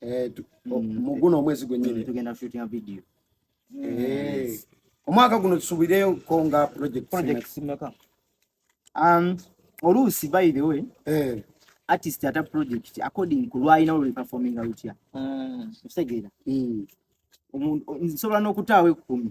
eh, oh, mm. mu guno omwezi gwennyini tugenda shootinga video eh. omwaka guno tusubireyo ko nga projects meka um, oluusi by the way eh. artist ata project according ku lwalina oluli performinga lutya mm. okitegeera mm. nsobola n'okutaawo ekkumi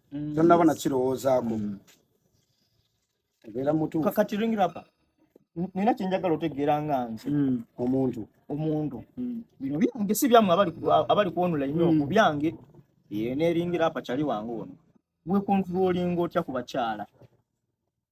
mm. tonaba nakirowoozaako mm. obeera mutuufu kakati ringira apa nina kyenjagala otegeera nga nze mm. omuntu omuntu bino byange si byamu abali kwonula nnyo ku byange neringira apa kyali wange ono wekontulolinga otya ku bakyala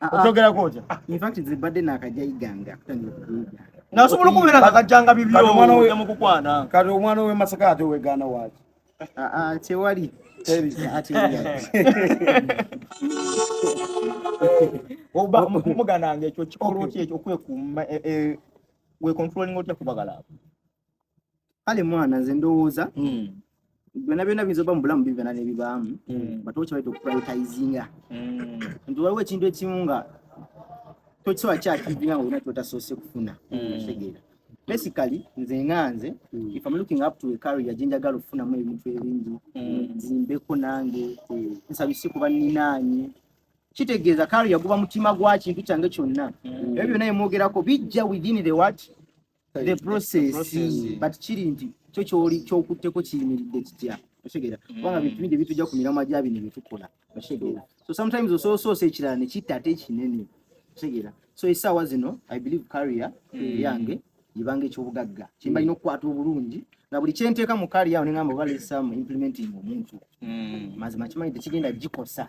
ah, ah. okyogera kotya ah, infact nze badde nakajja iganga kutandika kuyiga nasobola okubeera nakajjanga bibyoja mukukwana kati omwana owemasaka ate owegaana waki tewali muganange ekyo kikolo ki ekyo okwekuuma wekontrolinga otya kubagala abo kale mwana nze ndowooza hmm. byona byona biyinza oba mu bulamu bibana nebibaamu hmm. but okyabaita okupriotizinga hmm. nti waliwo ekintu ekimu nga tokisobola kyakiizinga nga olina kyotasoose kufuna tegeera basically nze nga nze if am looking up to a career gye njagala okufunamu ebintu ebingi zimbeko nange nsabise kuba ninaanye kitegeeza career guba mutima gwa kintu kyange kyonna ebyo byona emwogerako bijja within the what the process but kiri nti kyo kyoli kyokutteko kiyimiridde kitya otegeera mm. kubanga bintu bingi ebitujja ku miramwa gya bino byetukola otegeera so sometimes osoosoosa ekirala ne kitta ate ekinene otegeera so esaawa zino i believe carrier mm. yange yebanga ekyobugagga kyembalina okukwata obulungi nga buli kyenteeka mu carrier awo nengamba oba lesamu implementing omuntu mm. mazima kimanyi tekigenda gikosa